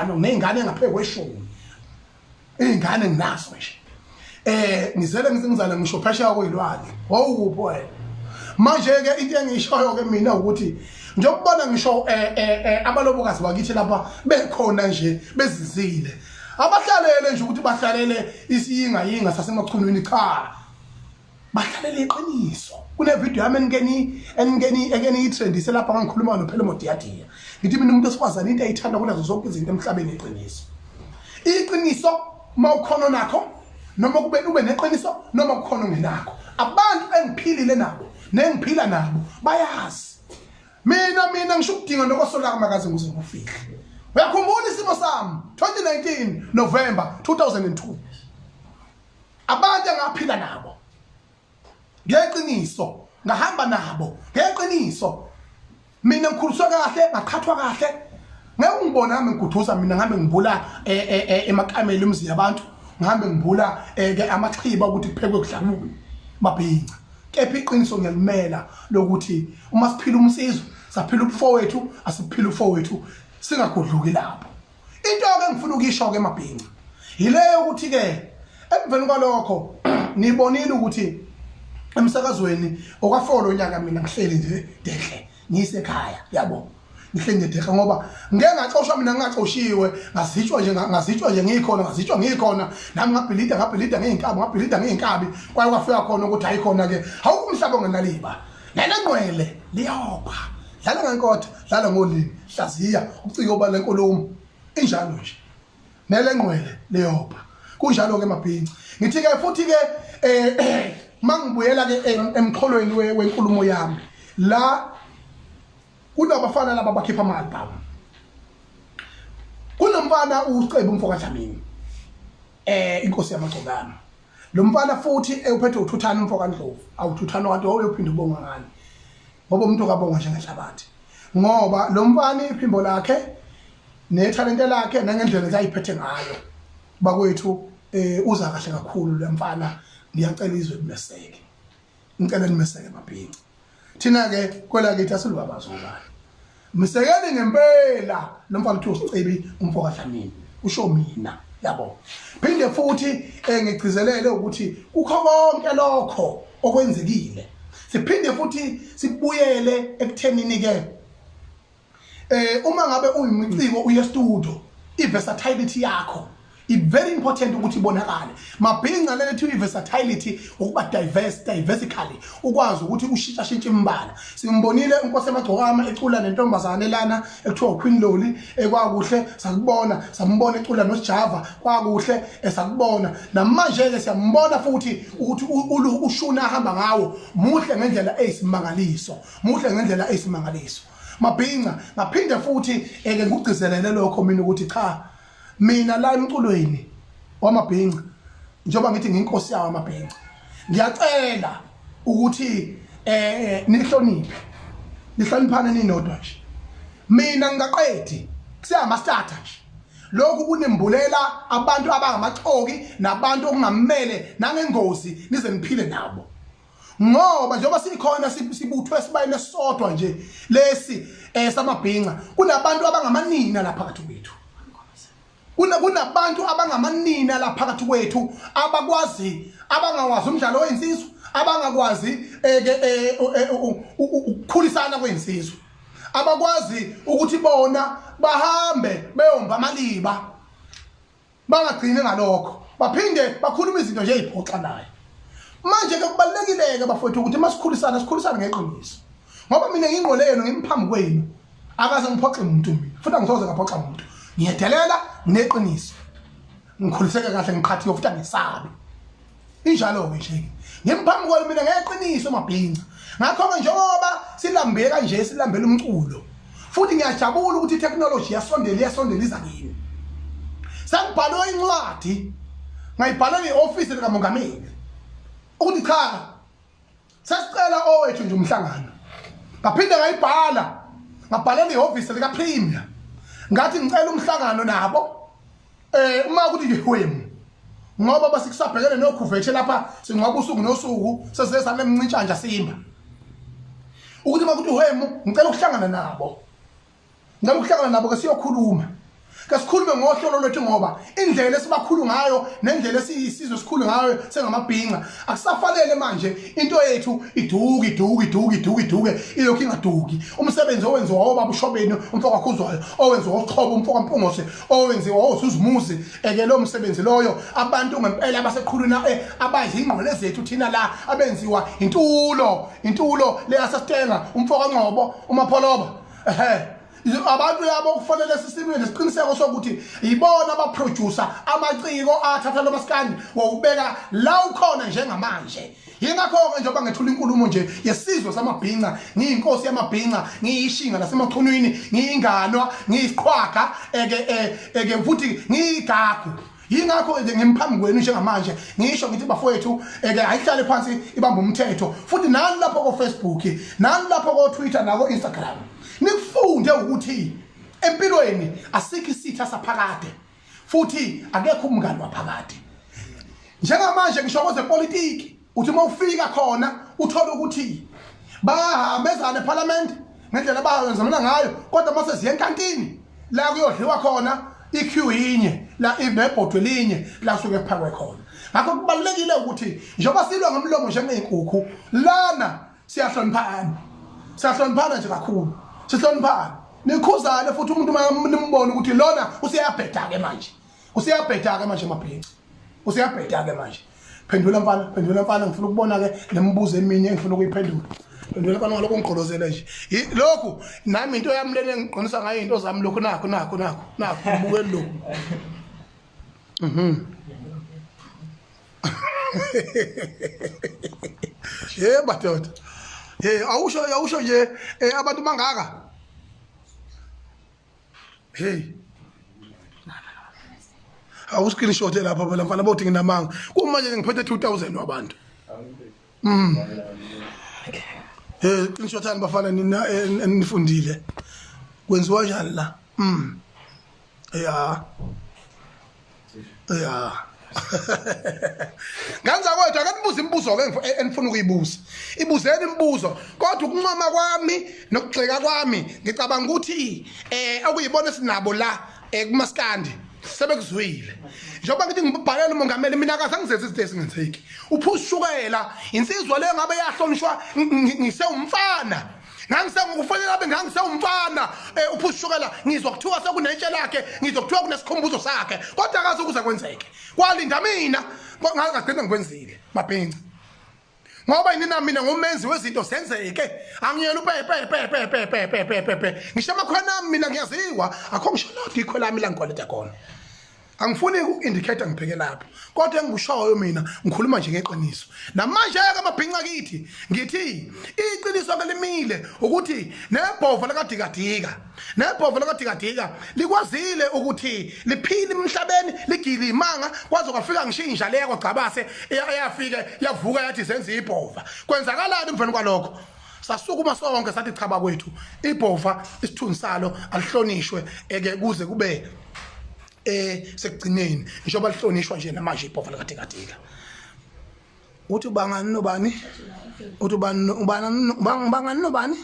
ano nezingane ngaphezulu kweshumi izingane nginazo nje eh ngizele ngizingizana ngisho phesheya kuyilwandle wawukuphi wena manje ke into engishoyo ke mina ukuthi njengokubona ngisho eh, eh, eh, abalobokazi bakithi lapha bekhona nje bezizile abahlalele nje ukuthi bahlalele isiyinga yinga sasemachunwini cha bahlalela iqiniso kunevidiyo yami eningeniyitrendise lapho ngangikhuluma nophela umodiyadiya ngithi mina umuntu esikwazana into ayithanda kunazo zonke izinto emhlabeni iqiniso iqiniso uma ukhona onakho noma kube ube neqiniso noma kukhona ongenakho abantu engiphilile nabo nengiphila nabo bayazi mina mina ngisho ukudinga nokosolaka makaze ngize ngikufihle uyakhumbula isimo sami 2019 november 2002 abantu engaphila nabo ngeqiniso ngahamba nabo ngeqiniso mina ngikhuliswa kahle ngaqhathwa kahle ngeke ungibone nami ngiguduza mina ngihambe ngibula eh, eh, eh, emakameli emzini yabantu ngihambe ngibula ke amaxhiba ukuthi kuphekwe kudlakubi babhinca kepha iqiniso ngiyalimela lokuthi uma siphila umsizwe saphila ubufowethu asiphila ubufowethu singagudluki lapho into ke engifuna ukuyisho ke mabhinca yileyo ukuthi ke emveni kwalokho nibonile ukuthi emsakazweni okafolo unyaka mina ngihleli nje dehle ngisekhaya yabo ngihleli nje dehle ngoba ngeke ngaxoshwa mina ngingaxoshiwe ngazitshwa nje ngazitshwa nje ngikhona ngazitshwa ngikhona nami ngabhilida ngabhilida ngeenkabi ngabhilida ngeenkabi kwaye kwafika khona ukuthi hayikhona ke awukumhlaba ngenaliba lana ngqwele liyopha dlala ngenkotha dlala ngolimi hlaziya ucike uba lenkulumo injalo nje nele ngqwele liyopha kunjalo ke mabhinci ngithi ke futhi ke eh mangibuyela ke emxholweni wenkulumo yami la kunabafana laba bakhipha ama-albhamu kunomfana ucebu umfokadlamini eh inkosi yamagcokana lo mfana futhi ewuphethe uthuthana umfo kaNdlovu awuthuthana kanti wawuyophinda ubonga ngani ngoba umuntu kabonga njengenhlabathi ngoba lo mfana iphimbo lakhe nethalente lakhe nangendlela ezayiphethe ngayo bakwethu eh uza kahle kakhulu lo mfana ngiyacela izwe kumeseke ngicela nimeseke mabhinci thina ke kwelakithi asilubabazi ubani msekeni ngempela lo mfana kuthiwa usicebi umfo kaDlamini usho mina yabo phinde futhi eh, ngigcizelele ukuthi kukho konke lokho okwenzekile siphinde futhi sibuyele ekuthenini ke eh uma ngabe uyimiciko uye studio iversatility yakho i very important ukuthi ibonakale mabhinca lelethi iversatility ukuba diverse diversically ukwazi ukuthi ushintsha shintshe imbala simbonile inkosi emagcokama ecula nentombazane lana ekuthiwa uQueen Loli ekwakuhle sakubona sambona ecula noSjava kwakuhle esakubona eh, namanje ke siyambona futhi ukuthi ushuna ahamba ngawo muhle ngendlela eyisimangaliso muhle ngendlela eyisimangaliso mabhinca ngaphinde futhi eke ngigcizelele lokho mina ukuthi cha mina la emculweni wamabhinca njengoba ngithi nginkosi yawo amabhinca ngiyacela ukuthi eh nihloniphe nihloniphane ninodwa nje mina ngingaqedi kusiyama starter nje lokhu kunimbulela abantu abangamaxoki nabantu okungamele nangengozi nize niphile nabo ngoba njengoba sikhona sibuthwe sibayile sodwa nje lesi eh samabhinca kunabantu abangamanina lapha phakathi kwethu kuna kunabantu abangamanina lapha phakathi kwethu abakwazi abangawazi umdlalo oyinsizwa abangakwazi eh, ke eh, eh, ukukhulisana kwensizwa abakwazi ukuthi bona bahambe beyomba amaliba Bangagcini ngalokho, baphinde bakhuluma izinto nje eziphoxa naye. Manje ke kubalekileke bafowethu ukuthi masikhulisana sikhulisane ngeqiniso. Ngoba mina ngingqole yena ngimphambi kwenu. Akaze ngiphoxe umuntu mina. Futhi angisoze ngaphoxa umuntu. Ngiyedelela ngineqiniso. Ngikhuliseke kahle ngiqhathiwe futhi angisabi. injalo-ke nje ngimphambi kwayo mina ngeqiniso mabhinca ngakho-ke njengoba silambe kanje silambela umculo futhi ngiyajabula ukuthi itechnology iyasondela iyasondela iza kini sengibhalwe incwadi ngayibhalelwa i-ofisi likamongameli ukuthi cha sesicela owethu nje umhlangano ngaphinde ngayibhala ngabhalela ihhovisi likapremier ngathi ngicela umhlangano nabo um uma ukuthi ngihwemu ngoba basikusabhekele nokhuvethe lapha singcwaba usuku nosuku sesesane mncintshanja simba ukuthi uma kuthi uhwemu ngicela ukuhlangana nabo Ngicela ukuhlangana nabo ke siyokhuluma. Kasikhulume ngohlolo lwethu ngoba indlela esibakhulu ngayo nendlela esiyisizwe sikhulu ngayo sengamabhinqa akusafanele manje into yethu iduki iduki iduki iduki iduke ilokhu ingaduki umsebenzi owenziwa obaba ushobeni umfoka khuzwayo owenziwa uqhobo umfoka mpungose owenziwa osuzimuzi eke lo msebenzi loyo abantu ngempela abaseqhulwini eh, abadla ingqole zethu thina la abenziwa intulo intulo leyasasitenga umfoka nqobo umapholoba abantu labo kufanele sisilwe nesiqiniseko sokuthi yibona abaproducer amaciko athatha lo maskandi wawubeka la ukhona njengamanje yingakho-ke njengoba ngethula inkulumo nje yesizwe samabhinca ngiyinkosi yamabhinca ngiyishinga lasemachunwini ngiyinganwa ngiyisiqhwaga eke eh, eke futhi ngiyigagu yingakho ke ngimphambi kwenu njengamanje ngisho ngithi bafowethu eke ayihlale phansi ibamba umthetho futhi nani lapho ko-facebook nani lapho ko-twitter nako-instagram nikufunde ukuthi empilweni asikho isitha saphakade futhi akekho umngani waphakade njengamanje ngisho kwezepolitiki uthi uma ufika khona uthole ukuthi bahambezana ephalamende ngendlela abayenzamana ngayo kodwa uma seziye enkantini la kuyodliwa khona i-q yinye la ibebhodwe linye la suke kuphakwe khona ngakho kubalulekile ukuthi njengoba silwa ngomlomo njengey'nkukhu lana siyahloniphana siyahloniphana nje kakhulu sihloniphana nikhuzane futhi umuntu uma nimbona ukuthi lona useyabheda-ke manje useyabheda ke manje mabhinci useyabheda ke manje phendula mfana phendula mfana ngifuna ukubona ke nemibuzo eminye engifuna ukuyiphendula phendula mfana ngalokho ngigqolozele nje lokhu nami into yami lena engiqinisa ngayo into zami lokhu nakho nakho nakho nakho ubukeli lokhu mhm ye madoda ye awusho awusho nje eh, abantu bangaka hey awu screenshot lapha phela mfana bothi nginamanga kumanje ngiphethe 2000 wabantu mm eh screenshot ani bafana nina eh, nifundile kwenziwa njani la mm ya ya ngani zakwethu ake nibuze imibuzo-ke e-, enifuna ukuyibuza ibuzeni imibuzo kodwa ukuncoma kwami nokugxeka kwami ngicabanga ukuthi um okuyibona esinabo la um kumasikandi sebekuzwile njengoba ngithi ngibhalele umongameli mina kaze angizenzi izinto ezingenzeki uphuza ushukela insizwa leyo ngabe yahlonishwa ngisewumfana ngangisengukufanele abe ngangisewumfana um eh, uphushukela ngizwa kuthiwa sekunetshe lakhe ngizwa kuthiwa kunesikhumbuzo sakhe kodwa akazi ukuze kwenzeke kwalinda mina ngagcina ngikwenzile mabhinci ngoba yini na mina ngumenzi wezinto zenzeke angiyena upepepepepepepepepepe ngisho amakhona ami mina ngiyaziwa akho ngisho lodwa ikho lami la ngikwaleta khona angifuni uku-indicate ngibheke lapho kodwa engikushoyo mina ngikhuluma nje ngeqiniso namanje-ke amabhinca kithi ngithi iqiniso ke limile ukuthi nebhova lakadikadika nebhova lakadikadika likwazile ukuthi liphile emhlabeni ligile imanga kwaze kwafika ngisho inja leya kwagcabase eyafike yavuka yathi zenza ibhova kwenzakalani emveni kwalokho sasukuma sonke sathi cha bakwethu ibhova isithunzi salo alihlonishwe eke kuze kube eh sekugcineni ngisho balihlonishwa nje namanje ibhova likathikathika uthi ubangani nobani uthi ubani ubani ubangani nobani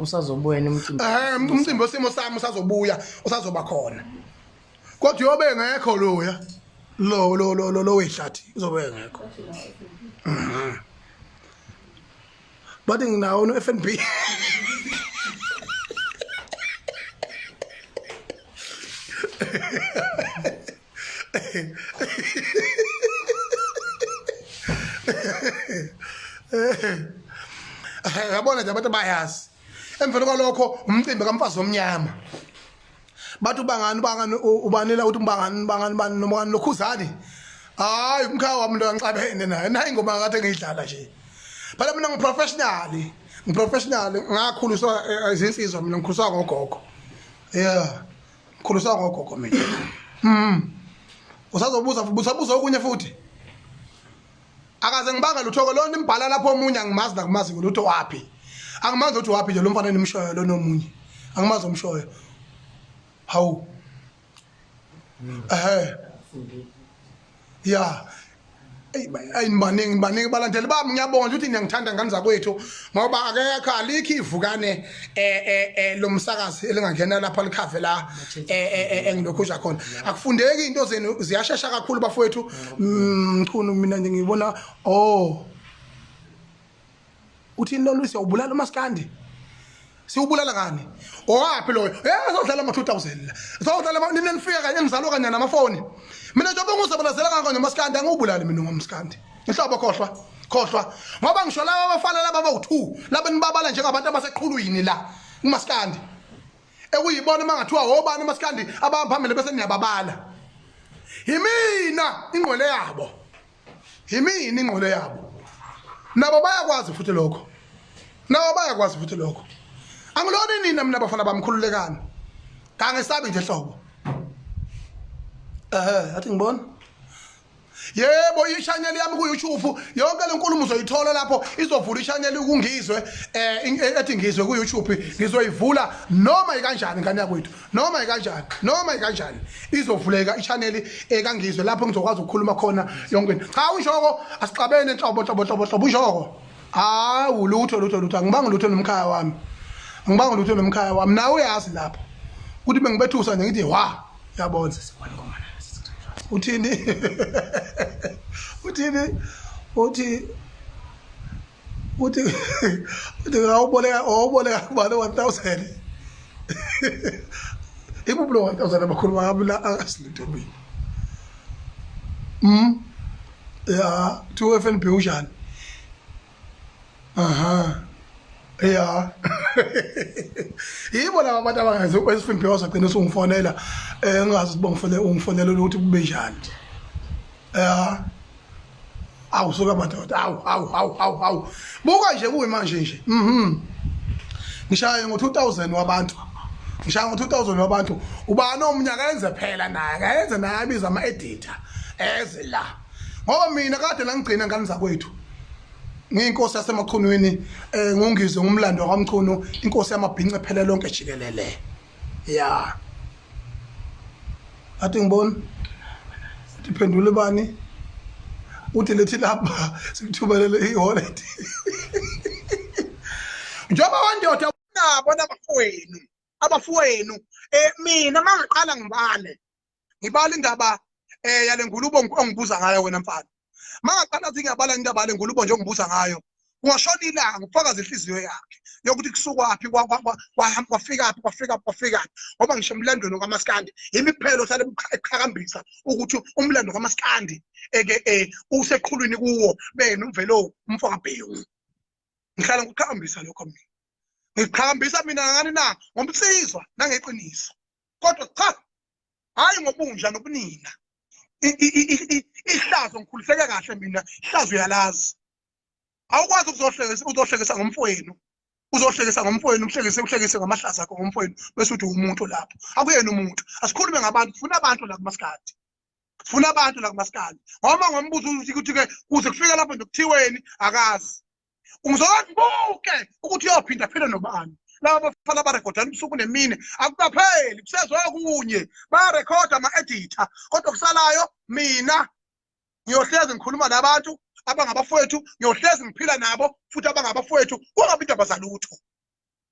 usazobuya emcimbini eh umcimbi osimo sami usazobuya usazoba khona kodwa yobe ngekho loya lo lo lo lo wehlathi uzobe ngekho mhm. bathi nginawo no FNB yabona nje abantu bayazi emveni kwalokho umcimbi kamfazi omnyama bathi ubangani ubangani ubanela ukuthi ubangani ubangani bani noma kani lokhuzani hayi umkhaya wami into kancabene naye nayi ingoma akade ngiyidlala nje phela mina ngiprofessionally ngiprofessionally ngakhuliswa eh, izinsizwa mina ngikhuliswa ngogogo yeah ngikhuliswa ngogogo mina mm usazobuza usabuza okunye futhi akaze ngibanga lutho ke lona imbhala lapho omunye angimazi nakumazi ngolutho waphi angimazi ukuthi waphi nje lo mfana enimshoyo lona omunye angimazi omshoyo hawu ehe ya ayinibaningi baningi balandeli bami ngiyabonga ukuthi niyangithanda ngane zakwethu ngoba akekho alikho ivukane eh eh, eh lo msakazi elingangena lapha likhave la eh, eh, engilokhu uja khona akufundeki into zenu ziyashesha kakhulu bafowethu mm, mchunu mina nje ngibona oh uthini lo Lucy ubulala umaskandi siwubulala ngani owaphi loyo eh sodlala ama 2000 la sodlala ama nina nifika kanye ngizalwa kanye namafoni mina njengoba ngizobulazela ngakho nje maskandi angubulali mina ngomskandi nhlobo khohlwa khohlwa ngoba ngisho laba abafana laba bawu-two laba nibabala njengabantu abaseqhulwini la kumasikandi ekuyibona uma ngathiwa wobani umasikandi abahamba phambili bese niyababala yimina ingqwele yabo yimina ingqwele yabo nabo bayakwazi futhi lokho nabo bayakwazi futhi lokho angilona inina mina bafana bamkhululekani kangesabi nje hlobo ehe athi ngibona yebo ishaneli yami kuYouTube yonke lenkulumo uzoyithola lapho izovula ishaneli kungizwe eh, eh ethi ngizwe kuYouTube ngizoyivula noma ikanjani ngane yakwethu noma ikanjani noma ikanjani izovuleka ishaneli ekangizwe eh, lapho ngizokwazi ukukhuluma khona yonke into cha ushoko asixabene nhlobo hlobo hlobo hlobo ushoko hawu lutho lutho lutho angibanga lutho nomkhaya wami angibanga lutho nomkhaya wami nawe uyazi lapho ukuthi bengibethusa nje ngithi wa yabona sesibona ngoma nayo sesithatha uthini uthini uthi uthi uthi awuboleka awuboleka kubani 1000 ibubulo 1000 abakhulu bakabula akasilito mina mm ya to FNB ujani aha ya yibo laba abantu abangazi esifimbiyoza gcina usungifonela um eh, ngingazi ukuthi bongifonele ungifonela ukuthi kube njani ya awu suka madoda awu awu awu awu awu buka nje kuyi manje nje mhm ngishaye ngo-2000 wabantu ngishaye ngo-2000 wabantu ubani omnyaka enze phela naye kayenze naye abiza ama-edita eze la ngoba mina kade langigcina ngane zakwethu ngiyinkosi yasemachunwini um ngungizwe ngumlando wakwamchunu inkosi yamabhince phele lonke jikelele ya athi ngibona ndiphendule bani uthi lethi lapha sikuthubelele iholet njengoba wandoda nabo nabafowenu abafowenu um mina mangiqala ngibale ngibala indaba eh yale ngulubo ongibuza ngayo wena mfana mangaqala athi ngiyabala indaba yale ngulubo nje ongibuza ngayo ungashona ilanga ufakaza inhliziyo yakhe yokuthi kusukwaphi kwafikaphi kwafikaphi kwafikaphi ngoba ngisho emlandweni kamaskandi imiphelo sale eqhakambisa ukuthi umlando kamaskandi eke eh, useqhulwini kuwo bena umvelo umfakabhewu ngihlala ngiqhakambisa lokho mina ngiqhakambisa mina ngani na ngomsizwa nangeqiniso kodwa cha hhayi ngobunja nobunina ihlazo ngikhuliseke kahle mina ihlazo uyalazi awukwazi ukuzohlekisa uzohlekisa ngomfowenu uzohlekisa ngomfowenu uhlekise uhlekise ngamahlaza akho ngomfowenu bese uthi umuntu lapho akuyena umuntu asikhulume ngabantu funa abantu la kumasikhathi funa abantu la kumasikhathi ngoba ngombuzo ukuthi ukuthi-ke kuze kufike lapho nje kuthiweni akazi uzozibuke ukuthi uyophinda phela nobani laba bafana abarekhodana ubusuku nemini akukapheli kusezokunye bayarekhoda ama-editha kodwa kusalayo mina ngiyohlezi ngikhuluma nabantu abangabafowethu ngiyohlezi ngiphila nabo futhi abangabafowethu kungabi indaba zalutho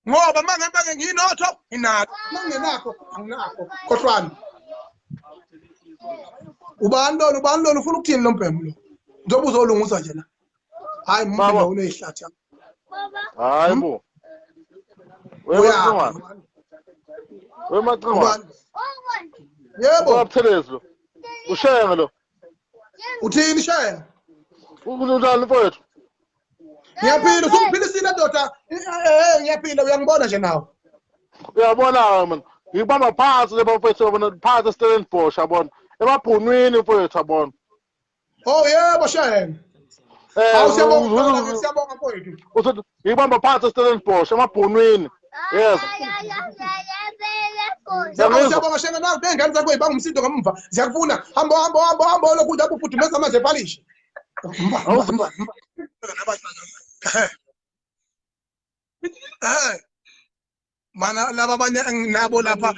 ngoba uma ngabe ke nginotho nginakho uma ngingenakho anginakho khohlwani ubani lona ubani lona ufuna ukuthini lo mbhemu lo njengoba uzolungiswa nje la hhayi mumba uneyihlathi hhayi bo wemacingwane wemacingwane yebo ubabuthelezi lo ushenge lo uthini shenge unalo mfowethu ngiyaphinda usungiphilisile ndoda eh, eh, eh, ngiyaphinda uyangibona nje nawe uyabona-ke mani ngibamba phansi le bafethu yabona phansi estellenbosh yabona emabhunwini mfowethu yabona oh yebo shayena ngibamba phansi estellenbosh emabhunwini yes siyabonga shenge nazi bengane zakho ibanga umsindo ngamumva ziyakufuna hambo hambo hambo hambo lokudla bufudumeza amanzi epalishe mana laba abanye enginabo lapha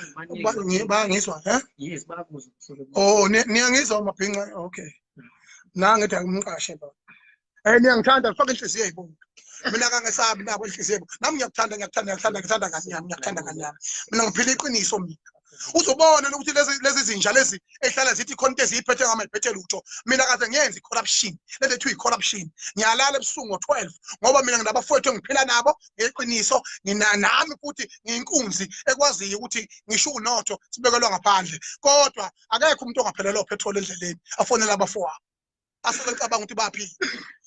bangizwa eh? oh niyangizwa mabhinca okay nangithi angimqashe lo um eh, niyangithanda faka inhliziyo yibona mina kangesabi nabo inhliziyo yebo nami ngiyakuthanda ngiyakuthanda ngiyakuthanda ngiyakuthanda kazi yami ngiyakuthanda kazi yami mina ngiphila iqiniso mina uzobona ukuthi lezi lezi zinja lezi ehlala zithi khonto eziyiphethe ngama iphethe lutho mina kaze ngenze corruption lento ethiwa corruption ngiyalala ebusuku ngo 12 ngoba mina nginabafowethu engiphila nabo ngeqiniso nginanami futhi ngiyinkunzi ekwaziyo ukuthi ngisho unotho sibekelwa ngaphandle kodwa akekho umuntu ongaphelelwa petrol endleleni afonela abafowabo asuke ecabanga ukuthi baphi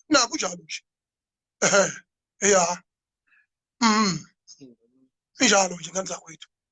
na kunjalo nje ehe ya mm injalo nje ngenza kwethu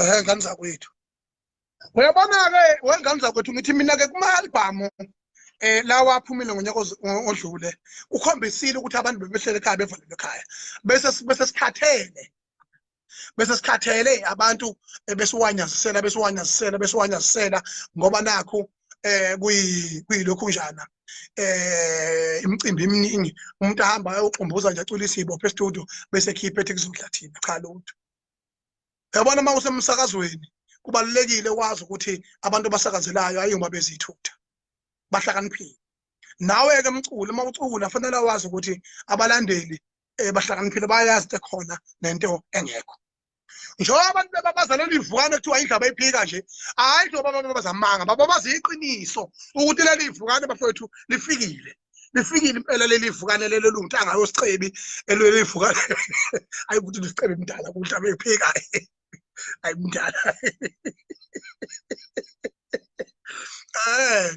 ehe ngane zakwethu uyabona-ke wengane zakwethu ngithi mina-ke kuma-albhamu um eh, lawa aphumile ngonyaka odlule ukhombisile ukuthi abantu bebehlele ekhaya bevalelwe ekhaya bese bese sikhathele bese sikhathele abantu besiwanyazisela besiwanyazisela besiwanyazisela ngoba nakho eh kuyilokhu njana eh imicimbi eminingi umuntu ahamba ayoxumbuza nje acula isibophe estudio bese ekhipha ethi kuzodla thina cha lutho yabona uma usemsakazweni kubalulekile wazi ukuthi abantu abasakazelayo ayuma bezithutha bahlakaniphile nawe-ke mculi uma ucula fanele wazi ukuthi abalandeli um bahlakaniphile bayazi ukuthi khona nento engekho njengoba abantu bebabaza leli vukane kuthiwa indlu abayiphika nje hhayi njengoba abantu babazamanga bababaza iqiniso ukuthi leli vukane bafowethu lifikile lifikile impela leli vukane lelo lunguthi angayosicebi elweli vukane ayi ukuthi lisicebi mdala kuhle abeyiphika ayi mdala um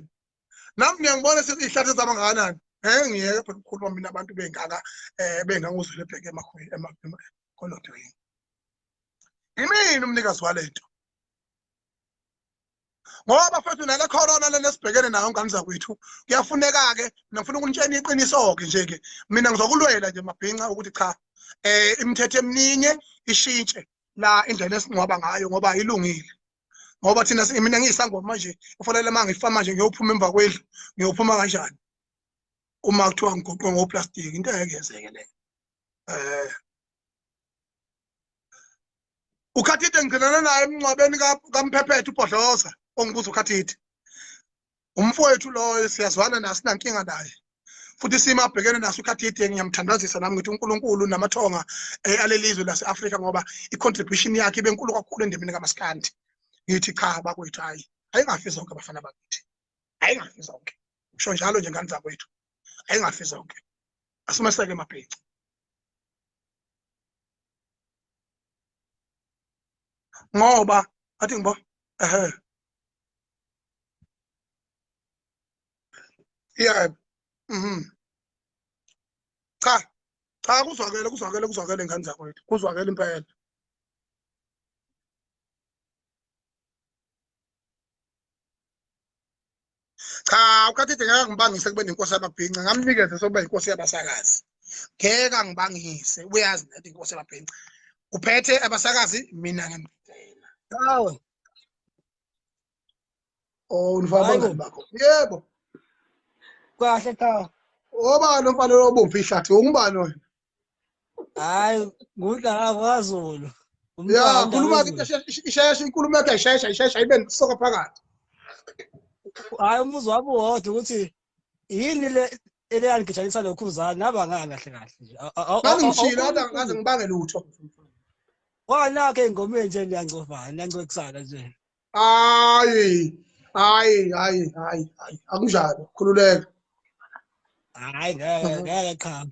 nami ngiyangibona sekuyihlathi ezaba ngakanani ngeke ngiyeke phela ukukhuluma mina abantu bengaka um benganguzwile ebheke kolodweni imini umnikazi wale nto ngoba fethu nale corona lena esibhekene nayo ngane zakwethu kuyafuneka-ke mina ngifuna ukunitshena iqiniso-ke nje-ke mina ngizokulwela nje mabhinca ukuthi cha um imithetho eminingi ishintshe la indlela esingcwaba ngayo ngoba ayilungile ngoba thina mina ngiyisangoma manje kufanele uma ngifa manje ngiyophuma emva kwendlu ngiyophuma kanjani uma kuthiwa ngigoqwe ngoplastiki into engeke yenzeke leyo um ukhathide ngigcinana naye emngcwabeni kamphephethe ubhodloza ongibuza ukhathide umfowethu loyo siyazwana naye sinankinga naye futhi isimo abhekene naso ukhathide ngiyamthandazisa nami ngithi unkulunkulu namathonga eh, alelizwe lase-afrika ngoba i-contribution yakhe ibe nkulu kakhulu endemini kamasikandi ngithi cha bakwethu hhayi ayingafi zonke abafana bakithi ayingafi zonke usho njalo nje ngani zakwethu ayingafi zonke asimeseke emabhinci ngoba athi ngibo ehe yeah mhm cha cha kuzwakele kuzwakele kuzwakele ngane zakwethu kuzwakele impela cha ukathethe ngeke ngibangise kube nenkosi yamabhinca ngamnikeze sokuba inkosi yabasakazi ngeke angibangise uyazi nento inkosi yamabhinca uphethe abasakazi mina ngimdela Oh unifaka abangani bakho. Yebo. Kahle cha. Obani umfana lobomfa ihlathi ungubani wena? Hayi ngudlala kwaZulu. Ya khuluma ke isheshe inkulumo yakhe ishesha ishesha ibe soka phakathi. Hayi umuzwa wabo wodwa ukuthi yini le eleyangigitshanisa nokhuzana nabangani kahle kahle nje ngangimshilo ade ngaze ngibange lutho wanakhe engomeni nje niyangcovana niyancokisana nje hayi hayi hayi hayi hayi akunjalo khululeka hayi ngeke ngeke qhama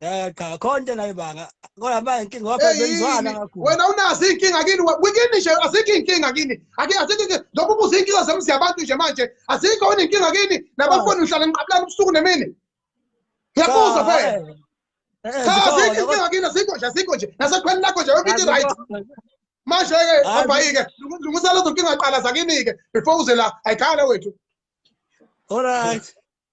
Eh cha konke nayo banga. Kodwa manje inkinga waphela benzwana kakhulu. Wena unazi inkinga kini wikini nje azikho inkinga kini. Ake azikho inkinga lokho kuze inkinga zemzi yabantu nje manje. Azikho wena inkinga kini nabafuni uhlala niqabulana ubusuku nemini. Ngiyabuza fe. Eh, eh, cha azikho inkinga kini azikho nje azikho nje. Nasekhweni lakho nje yonke into right. Manje ke abhayike lungisela zonkinga qala zakini ke before uze la ayikhale wethu. All right.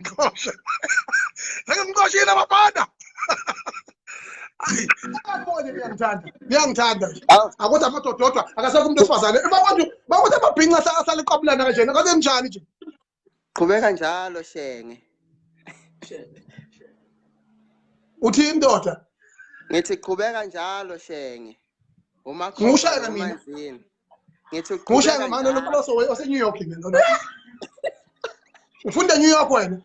Ngiqoshe. Ngeke ngiqoshile abafana. Akaboni ngiyamthanda. Ngiyamthanda. Akuthi amadoda odwa akasekho umuntu wesifazane. Babantu bakuthi amabhinqa asaliqabulana kanjena. Kaze njani nje? Qhubeka njalo shenge. Uthi indoda. Ngithi qhubeka njalo shenge. Uma Ngiwushayela mina. ngithi uqhubeka kanjalo manje lo Poloso ose New York mina lona ufunda New York wena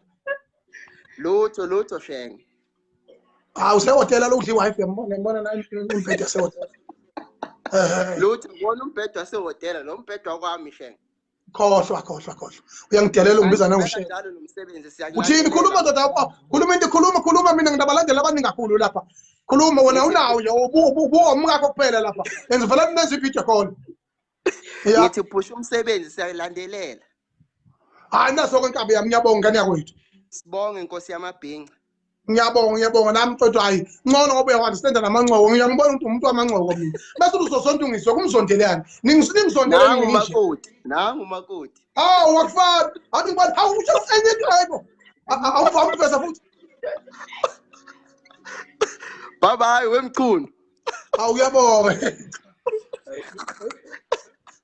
lutho lutho shenge hawu ah, usehotela lokudla i-wifi yambona ngibona naye umbhede wasehotela lutho ngibona umbhede wasehotela lo mbhede wakwami shenge khohlwa khohlwa khohlwa uyangidelela ungibiza nangushe uthini khuluma ndoda khuluma into khuluma khuluma mina nginabalandeli abaningi kakhulu lapha khuluma wena unawo nje ubuwomkakho kuphela lapha and vele ninenza ividiyo khona ngithi phusha umsebenzi siyalandelela hayi naso kwenkabi yami ngiyabonga ngane yakwethu sibonge inkosi yamabhinca ngiyabonga ngiyabonga nami mfethu hayi ncono ngoba uyawandistand namancoko ngiyangibona ukuthi umuntu wamancoko mina bese uzosontungiswa kumzondelani ningizondelani makoti nangu makoti awu wakufana athi ngibani hawu usho enye into hayibo awuvami ukuveza futhi baba hayi wemchunu awu uyabonga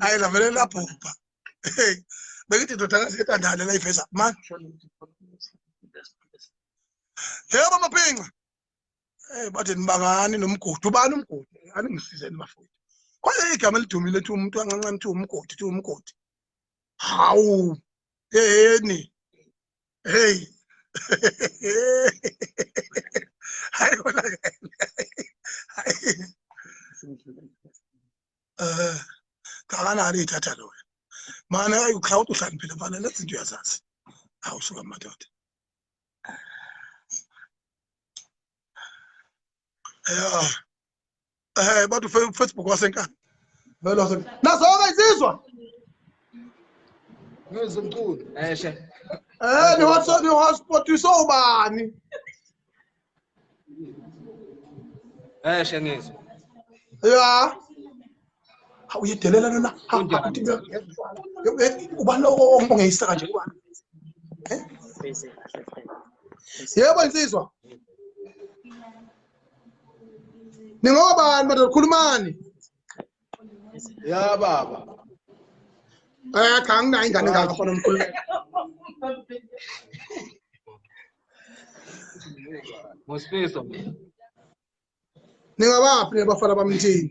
hayi lavele labhubha bekithi ndodakazi etandane la iveza man yebo maphinca hey bathe nibangani nomgodi ubani umgodi aningisizeni bafowethu kwaye igama elidumile ethi umuntu ancanca nithi umgodi thi umgodi hawu yeni hey hayi kona eh kakanani ithatha loyo mana ukhawuthi uhlaniphile mfana lezinto uyazazi hawu suka madoda ya eh bathi ufacebook wasenkani vele wasenkani nazoke izizwa ngizwe mculo eshe eh ni hotspot ni hotspot isobani eshe ngizwe ya hawu uyedelela lona ubani ongeyisa kanje ubani eh? yebo insizwa ningobani madoda khulumani ya baba eh cha anginayo ingane ngakho fana umkhulumeli Ngosifiso. Ningabaphi nebafana bamthini?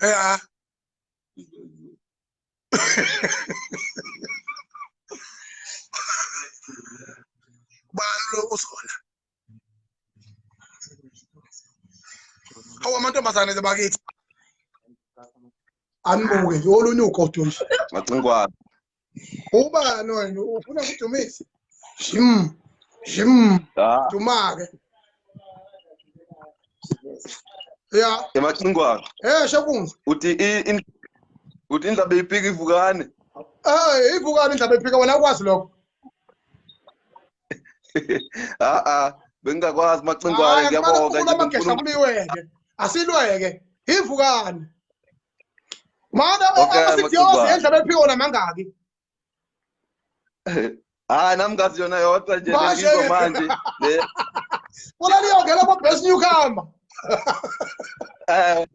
ya ubani lo uzona awu amantombazane bakithi anibuke yolunye ugodo nje macinkwane ubani wena ufuna kudumisa jim jim ah. dumake ya emacingwana eh shakunzi uthi in uthi indaba iphika ivukane eh ivukane indaba iphika wena ukwazi lokho ah ah bengingakwazi macingwane ngiyabonga nje amagesha kuliweke asilweke ivukane Mama ubaba sithiyoze endlebe ephiwo namangaki. Hayi nami ngazi yona yodwa nje ngizwa manje. Bona liyongela kwa best newcomer. Eh,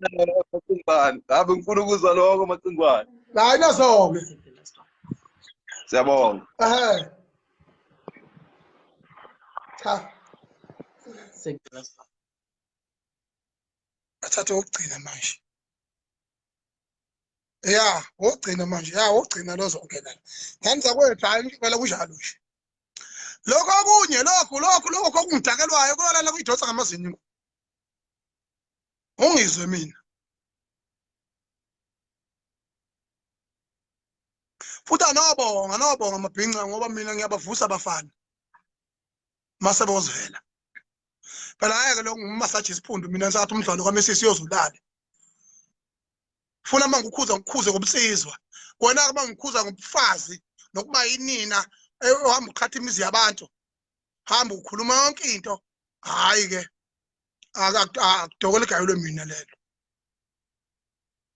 Macingwane. Hayi ngifuna ukuzwa lokho Macingwane. Hayi nasoke. Siyabonga. Eh. Cha. Sengicela athathe ogcina manje ya wogcina manje ya wogcina lozongena ngani zakwethu hayi ngibela kunjalo nje lokho okunye lokhu lokhu lokho okungidakelwayo kolala kuyidonsa ngamazinyo ungizwe mina futhi anobonga anobonga amabhinca ngoba mina ngiyabavusa abafana mase bozivela phela ayeke lo ngumasaji isiphundu mina ngisathi umdlalo kwamesisi yozulale funa uma ngikhuza ngikhuze ngobusizwa kona uma ngikhuza ngobufazi nokuba yinina ohamba uqhatha imizi yabantu hamba ukhuluma yonke into hayi ke akudokole igayelwe mina lelo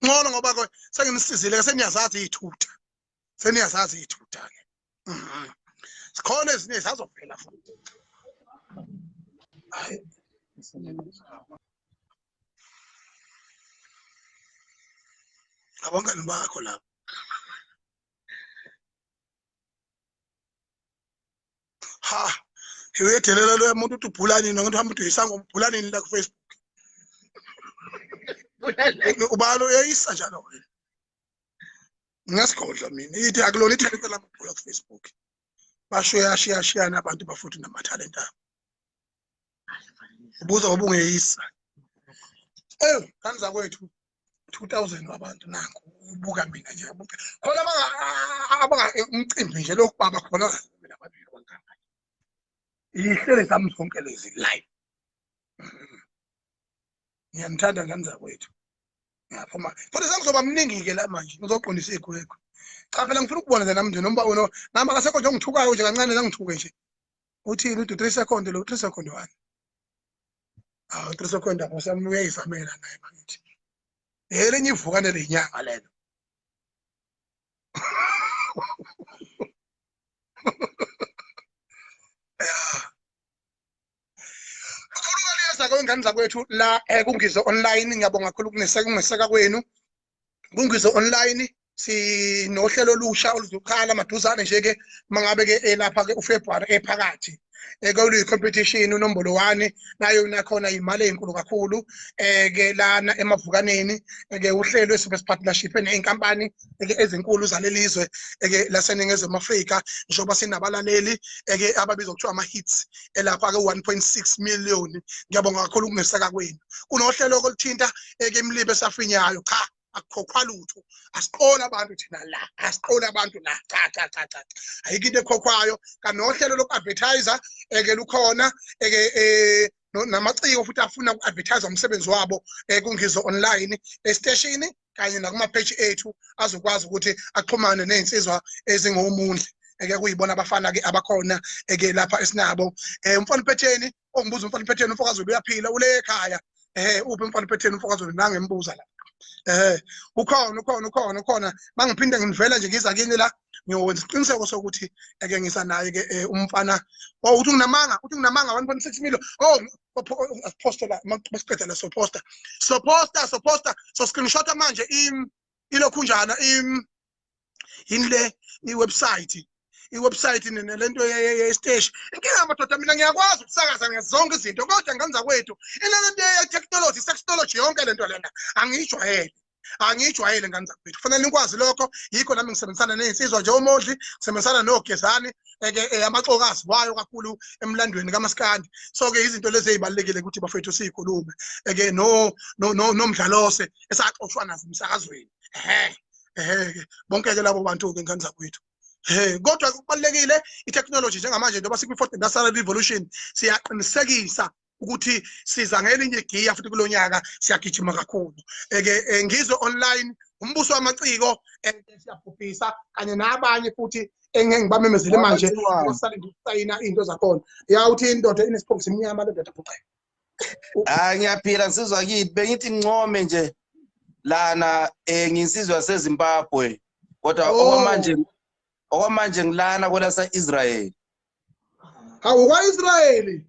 ncono ngoba ke senginisizile ke seniyazazi iyithutha seniyazazi ithutha-ke mhm. zikhona ezinye zazophela futhi abangani bakho lapho ha uyedelela loya muntu uthi ubhulani noma uthi hamba uthi uyisanga ubhulani la ku Facebook ubalo uyayisa njalo wena ngiyasigodla mina ithi akulona ithalente lamabhola kufacebook basho yashiyashiyana abantu bafuthi namathalente abo ubuza obungeyisa ewu ngani zakwethu 2000 wabantu nangu ubuka mina nje abuke khona abanga umcimbi nje lokhu baba khona mina babili kwanganga ihlele zami zonke lezi live ngiyanithanda ngani zakwethu ngiyaphuma futhi sengizoba mningi-ke la manje ngizoqondisa igwegwe cha phela ngifuna ukubona nje nami nje nomba wena nami akasekho nje ongithukayo nje kancane langithuke nje uthini uthi three second lo three second one awu three second apho sami uyayizamela naye bakithi elinye ivukane lenyanga lelo Ngiyabonga ingane zakwethu la eh, kungizwe online ngiyabonga kakhulu kungeseka kwenu kungizwe online sinohlelo olusha oluzokhala maduzane nje ke mangabe ke elapha eh, ke uFebruary ephakathi eh, ekolu competition unombolo 1 nayo nakhona imali ezinkulu kakhulu eh ke lana emavukaneni ke uhlelo esibe partnership nenkampani eke ezinkulu zalelizwe eke laseningizimu Afrika njengoba sinabalaleli eke ababizwa kuthiwa ama hits elapha ke 1.6 million ngiyabonga kakhulu ukungeseka kwenu kunohlelo okulithinta eke imlibe esafinyayo cha akukhokhwa lutho asiqola abantu thina la asiqola abantu la cha cha cha cha ayikho into ekhokhwayo kanohlelo loku-advertiser eke lukhona eke eh, namaciko futhi afuna uku-advertise umsebenzi wabo um eh, kungizo online esiteshini kanye nakumapheji ethu azokwazi ukuthi axhumane ney'nsizwa ezingomundle eke kuyibona abafana-ke abakhona eke lapha esinabo um umfana uphetheni ongibuza umfana uphetheni umfokazulu uyaphila ule ekhaya um uphi umfana uphetheni umfokazulu nangembuza la um ukhona ukhona ukhona ukhona mangiphinde ngivela nje ngiza kini la ngiyokwenza isiqiniseko sokuthi eke ngisanaye-ke um umfana o oh, uthi nginamanga uthi nginamanga one point six million o oh, asipostela masiqeda la soposta soposta soposta so screenshot manje im ilokhunjana im yini le iwebsite iwebsite nalento yesteshi inkinga madoda mina ngiyakwazi ukusakaza ngezonke izinto kodwa ngenza kwethu inalento ye-technology sextology yonke lento lena angiyijwayele angiyijwayele ngane zakwethu kufanele nikwazi lokho yikho nami ngisebenzisana nezinsizwa nje umodli ngisebenzisana nogezani eke eh, amaxoka aziwayo kakhulu emlandweni kamaskandi so ke izinto lezi ezibalekile ukuthi bafethu sikhulume eke no no no nomdlalose esaxoshwa nazo emsakazweni ehe ehe bonke ke labo bantu ke ngane zakwethu Hey kodwa kubalekile itechnology njengamanje njengoba sikwi fourth industrial revolution siyaqinisekisa ukuthi siza ngelinye igiya futhi kulo nyaka siyagijima kakhulu eke eh, ngizwe online umbuso wamaciko eh, siyabhubhisa kanye nabanye futhi engeke ngibamemezele manje usale ngisayina into zakhona ya uthi indoda inesiphofu simnyama le ndoda bhuqe hayi ngiyaphila ngisizwa kithi bengithi ngincome nje lana eh nginsizwa sezimbabwe kodwa oh. okwamanje okwamanje ngilana kwelasa israel hawu kwa-israyeli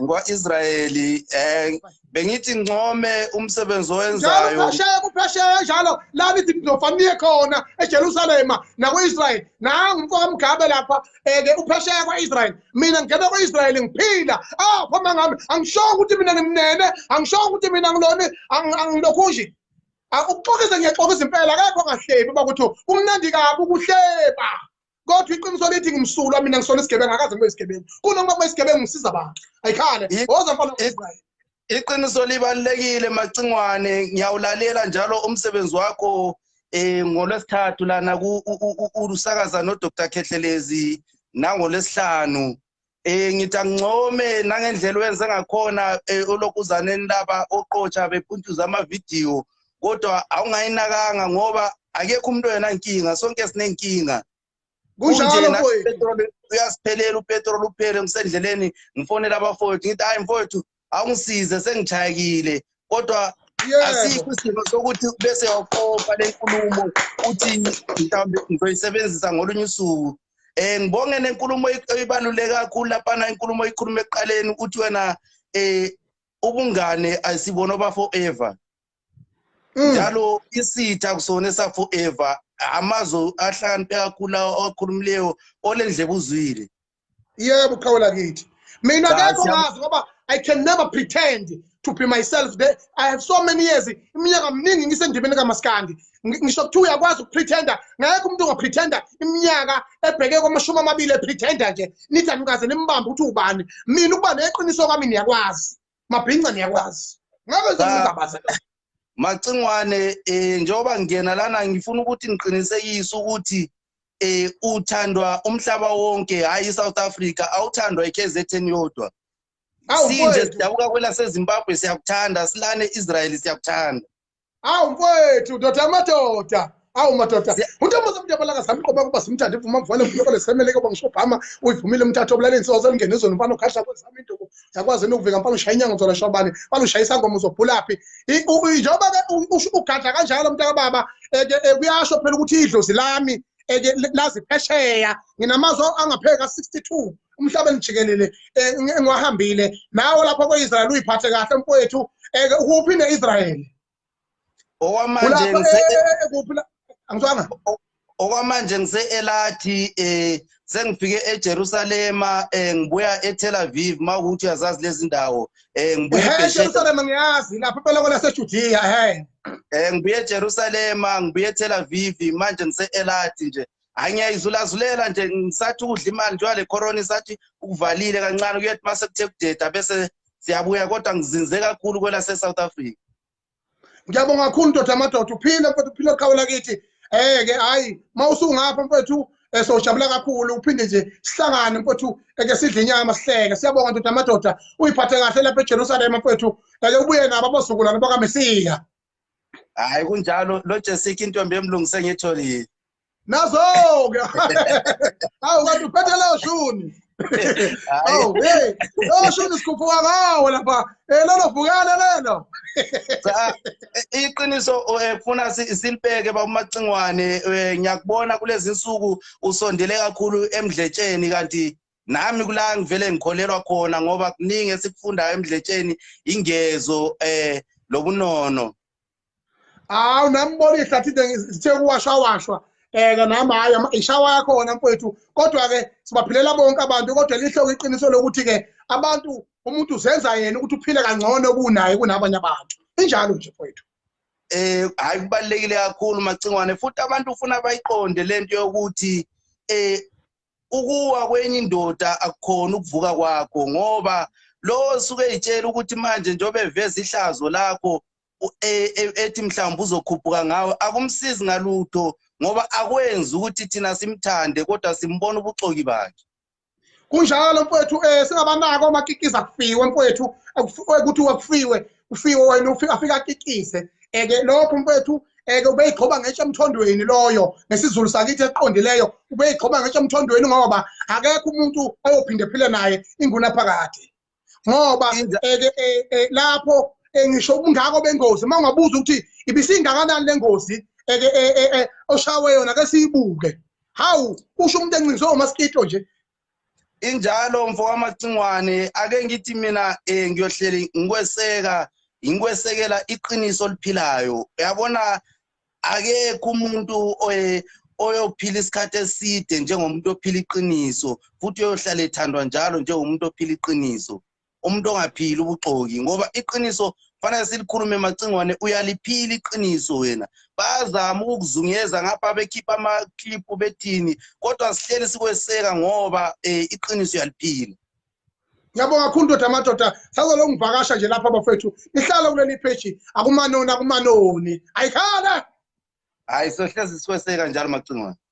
ngwa-israyeli um bengithi ngincome umsebenzi owenzayo kuphesheya kuphesheya njalo la nithi nizofaniye khona ejerusalema nakwi-israyeli nangu umfoka mgabe lapha um-ke eh, uphesheya kwa-israyeli mina ngingena kwa-israyeli ngiphila apho ah, mangami angishongo ukuthi mina ngimnene angishongo ukuthi mina ngiloni angilokhunji ah, ukuxokisa ngiyaxokisa impela kekho ngahleki uba kuthi kumnandi kabi ukuhleba kodwa iqiniso lithi ngimsulwa mina ngisona isigebengu akaze ngibe isigebengu kunoma kube isigebengu ngisiza abantu ayikhale woza mfana israyeli iqiniso libalulekile macingwane ngiyawulalela njalo umsebenzi wakho um ngolwesithathu lana usakaza nodr khehlelezi nangolwesihlanu Eh ngithi angincome nangendlela wenze ngakhona eh, ulokuzaneni laba oqotsha bepuntuza ama video kodwa awungayinakanga ngoba akekho umuntu oyena inkinga sonke sinenkinga kunjalo mfowethu uyasiphelela upetrol uphele ngisendleleni ngifonela abafowethu ngithi hayi mfowethu awungisize sengithayekile kodwa asikho isimo sokuthi bese yoqopa le nkulumo uthi mhlawumbe ngizoyisebenzisa ngolunye usuku um ngibonge nenkulumo eyibaluleke kakhulu laphana inkulumo oyikhuluma ekuqaleni ukuthi wena um ubungane asibona oba forever mm. njalo isitha kusona esaforever amazwi ahlakaniphe kakhulu akhulumileyo olendlebe uzwile yebo qhawe lakithi mina kekho ngazi ngoba i can never pretend to be myself there i have so many years iminyaka miningi ngisendimeni kamaskandi ngisho kuthiwa uyakwazi ukupretenda ngeke umuntu ongapretenda iminyaka ebheke kwamashumi amabili epretenda nje nithi anikaze nimbambe ukuthi ubani mina ukuba neqiniso kwami niyakwazi mabhinca niyakwazi ngeke ngizokuzabaza macingwane um njengoba ngingena lana ngifuna ukuthi ngiqinisekise ukuthi eh uthandwa umhlaba wonke hayi iSouth Africa awuthandwa iKZN yodwa sinje sidabuka kwelaseZimbabwe siyakuthanda silane Israel siyakuthanda awu mfowethu ndoda amadoda awu madoda untombazana umuntu yabalaka sami qoba kuba simthande ivuma mvane mfuna kole semeleke bongisho bhama uyivumile umthatha obulaleni soze lingene izona mfana ukhahla kwezami induku yakwazi nokuvika mfana ushaya inyanga uzona shobane mfana ushaya isangoma uzobhulaphi njengoba ke ugadla kanjalo mntaka baba eke eh, kuyasho phela ukuthi idlozi lami eke eh, lazi phesheya nginamazwi angapheka 62 umhlabeni jikelele eh, ngiwahambile nawo lapho ko-israyeli uyiphathe kahle mfowethu eke ukuphi ne-israyeli okwamanje ngise angizwanga okwamanje ngise elathi eh sengifike eJerusalema eh ngibuya eTel Aviv mawukuthi uyazazi lezi ndawo eh ngibuya eJerusalema ngiyazi lapha phela kola seJudiya hey eh ngibuya eJerusalema ngibuya eTel Aviv manje ngise elathi nje hayi ngiyayizulazulela nje ngisathi ukudla imali njengoba le corona isathi ukuvalile kancane kuyethi uma sekuthe kudeda bese siyabuya kodwa ngizinze kakhulu kwelase-south africa ngiyabonga kakhulu ndoda amadoda uphile mfethu uphile qhawe lakithi eke hhayi uma usungapha mfethu um eh, sojabula kakhulu uphinde nje sihlangane mfethu eke eh, sidle inyama sihleke siyabonga ndoda amadoda uyiphathe kahle lapha ejerusalema mfethu eke eh, ubuye nabo abozukulwane bakamesiya hayi kunjalo lo jesika intombi emlungu sengiyitholile nazo-ke hawu kanti uphethe leyo shuni hawu hey leyo shuni sikhuphuka ngawo lapha um lelo vukele lelo eh, iqiniso eh, funa silibheke babumacingwane um ngiyakubona kulezi nsuku usondele kakhulu emdletsheni kanti nami kula ngivele ngikholelwa khona ngoba kuningi esikufundayo emdletsheni ingezo eh lobunono awu nambona ihlathi ngithe kuwashwa washwa eke eh, nami hayi ishawa yakhona mfowethu kodwa-ke sibaphilela bonke abantu kodwa lihloko iqiniso lokuthi-ke abantu umuntu uzenza yena ukuthi uphile kangcono kunaye kunabanye abantu injalo nje mfowethu eh hayi kubalekile kakhulu macingwane futhi abantu ufuna bayiqonde lento yokuthi eh ukuwa kwenye indoda akukhona ukuvuka kwakho ngoba lowo suke itshela ukuthi manje njengoba eveza ihlazo lakho e, e, ethi mhlawumbe uzokhuphuka ngawe akumsizi ngalutho ngoba akwenzi ukuthi thina simthande kodwa simbona ubuxoki bakhe kunjalo mfowethu um singabanako omakikiza kufiwe mfowethu ukuthi wakufiwe ufike wena ufike afike akikise eke lokho mfethu eke ubeyiqhoba ngetshe emthondweni loyo ngesizulu sakithi eqondileyo ubeyiqhoba ngetshe emthondweni ngoba akekho umuntu oyophinde phile naye ingunaphakade ngoba eke e, e, lapho e, ngisho ubungako bengozi uma ungabuza ukuthi ibisingakanani le ngozi eke oshawe yona ke siyibuke hawu usho umuntu encinzwe umaskito nje injalo mfo wamacingwane ake ngithi mina eh ngiyohleli ngikweseka ngikwesekela iqiniso oliphilayo uyabona akekho umuntu eh, oyophila isikhathi eside njengomuntu ophila iqiniso futhi uyohlala ethandwa njalo njengomuntu ophila iqiniso umuntu ongaphili ubuxoki ngoba iqiniso fanele silikhulume macingwane uyaliphila iqiniso wena bazama ukukuzungeza ngapha bekhipha amakliphu bethini kodwa sihleli sikweseka ngoba um iqiniso uyaliphila ngiyabonga kakhulu ndoda amadoda sazolo ngivakasha nje lapha bafethu nihlale kuleli pheji akumanoni akumanoni ayikhala hayi sohlezi sikweseka njalo macingwane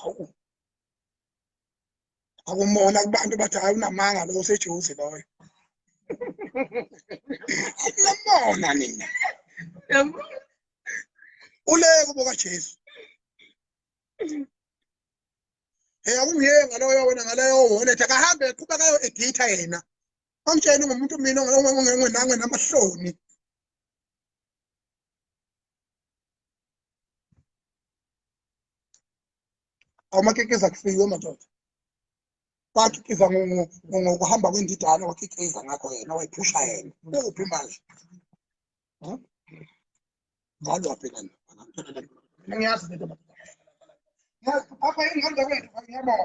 hawu akumona kubantu bathi hayi unamanga lo usejuzi loyo akunamona nina uleko bokajesu hey akungiye ngaloyo wena ngaleyo wallet akahambe eqhubeka yo editha yena amtsheni ngomuntu mina ongenange namahloni awumakekeza kufiwe madoda wakhiqiza ngokuhamba kwendidane wakhiqiza ngakho yena wayiphusha yena uphi manje ngalo wabhekana ngiyazi apha ingqondo kwethu angiyabona